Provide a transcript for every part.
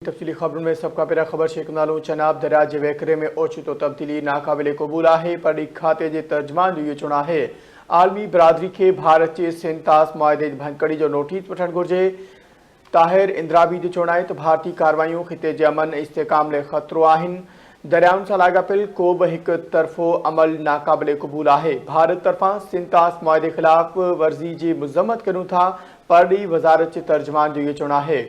تفصيلي خبرن ۾ سڀ کان پهريان خبر شيخ نالو چناب درياء جي وهڪري ۾ اوچتو تبديلي ناقابل قبول آهي پرڏيهي کاتي جي ترجمان جو اهو چوڻ آهي عالمي برادري کي ڀارت جي سينتاس معاهدي جي ڀڃڪڙي جو نوٽيس وٺڻ گهرجي طاهر اندرابي جو چوڻ آهي ته ڀارتي ڪاروايون خطي جي امن ۽ استحڪام لاء خطرو آهن دريائن سان لاڳاپيل ڪو به هڪ طرفو عمل ناقابل قبول آهي ڀارت طرفان سينتاس معاهدي خلاف ورزي جي مذمت ڪريون ٿا پرڏيهي وزارت جي ترجمان جو اهو چوڻ آهي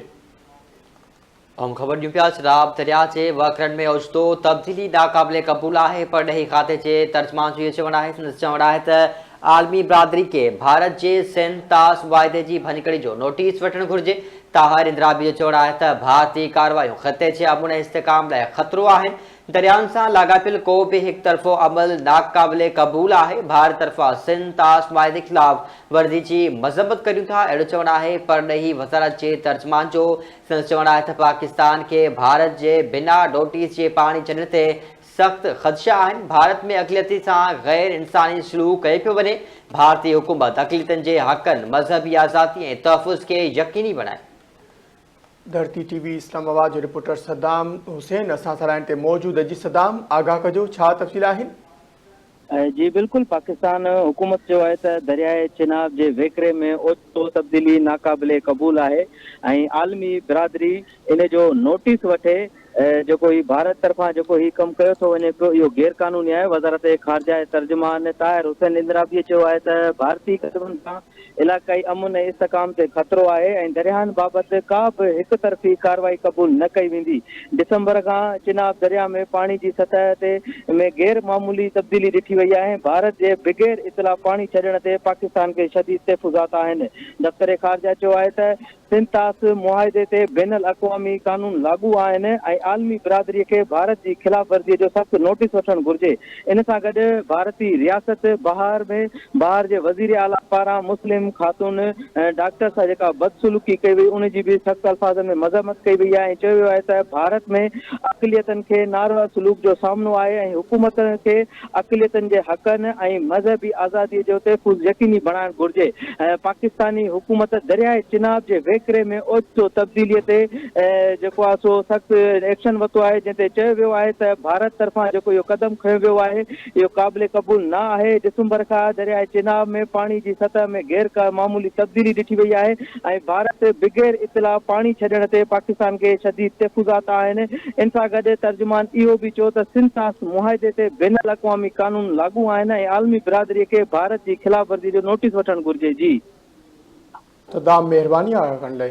اهم خبر ڏيون پيا شراب درياء جي وهڪرن ۾ اوچتو تبديلي ناقابل قبول آهي پرڏيهي کاتي جي ترجمان جو اهو چوڻ آهي سندس چوڻ آهي ته عالمي برادري کي ڀارت جي سنڌ طاس واعدي جي ڀڃڪڙي جو نوٽيس وٺڻ گهرجي طاهر اندرابي جو چوڻ آهي ته ڀارتي ڪاروايون خطي جي امن ۽ استحڪام لاء خطرو آهن دريائن سان لاڳاپيل ڪو به هڪ طرفو عمل ناقابل قبول آهي، ڀار طرفان سنڌ طاس معاهدي خلاف ورزي جي مذمت ڪريون ٿا، اهڙو چوڻ آهي پرڏيهي وزارت جي ترجمان جو، سندس چوڻ آهي ته پاڪستان کي ڀارت جي بنا نوٽيس جي پاڻي ڇڏڻ تي سخت خدشا آهن، ڀارت ۾ اقليتن سان غير انساني سلوڪ ڪيو پيو وڃي، ڀارتي حڪومت اقليتن جي حقن، مذهبي آزادي ۽ تحفظ کي يقيني بڻائي. ڌرتي ٽي وي اسلام آباد جو رپورٽر صدام حسين اسان سان لائين تي موجود آهي جي صدام آگاهه ڪجو ڇا تفصيل آهن. جي بلڪل پاڪستان حڪومت چيو آهي ته درياء چناب جي وهڪري ۾ اوچتو تبديلي ناقابل قبول آهي ۽ عالمي برادري ان جو نوٽيس وٺي، ۽ جيڪو هي ڀارت طرفان جيڪو هي ڪم ڪيو ٿو وڃي پيو اهو غير قانوني آهي وزارت خارجه جي ترجمان طاهر حسين اندرابيء چيو آهي ته ڀارتي قدمن سان علائقائي امن ۽ استحڪام تي خطرو آهي ۽ درياهن بابت ڪا به هڪ طرفي ڪارروائي قبول نه ڪئي ويندي ڊسمبر کان چناب درياهه ۾ پاڻي جي سطح تي ۾ غير معمولي تبديلي ڏٺي وئي آهي ڀارت جي بغير اطلاع پاڻي ڇڏڻ تي پاڪستان کي شديد تحفظات آهن دفتر خارجه چيو آهي ته سنتاس معاهدي تي بين الاقوامي قانون لاڳو آهن ۽ عالمي برادري کي ڀارت جي خلاف ورزي جو سخت نوٽيس وٺڻ گهرجي. ان سان گڏ ڀارتي رياست بهار ۾ بهار جي وزير اعليٰ پاران مسلم خاتون ڊاڪٽر سان جيڪا بدسلوڪي ڪئي وئي ان جي به سخت الفاظن ۾ مذمت ڪئي وئي آهي ۽ چيو ويو آهي ته ڀارت ۾ اقليتن کي ناروا سلوڪ جو سامنو آهي ۽ حڪومت کي اقليتن جي حقن ۽ مذهبي آزادي جو تحفظ يقيني بڻائڻ گهرجي. پاڪستاني حڪومت درياء چناب جي وهڪري ۾ اوچتو تبديلي تي جيڪو آهي سو سخت ايڪشن ورتو آهي جنهن تي چيو ويو آهي ته ڀارت طرفان جيڪو اهو قدم کنيو ويو آهي اهو قابل قبول نه آهي. ڊسمبر کان درياء چناب ۾ پاڻي جي سطح ۾ غير معمولي تبديلي ڏٺي وئي آهي. ۽ ڀارت بغير اطلاع پاڻي ڇڏڻ تي پاڪستان کي شديد تحفظات آهن، ان سان گڏ ترجمان اهو به چيو ته سنڌ طاس معاهدي تي بين الاقوامي قانون لاڳو آهن ۽ عالمي برادري کي ڀارت جي خلاف ورزي جو نوٽيس وٺڻ گهرجي جي. ته دام مهرباني آگا ڪنڊي.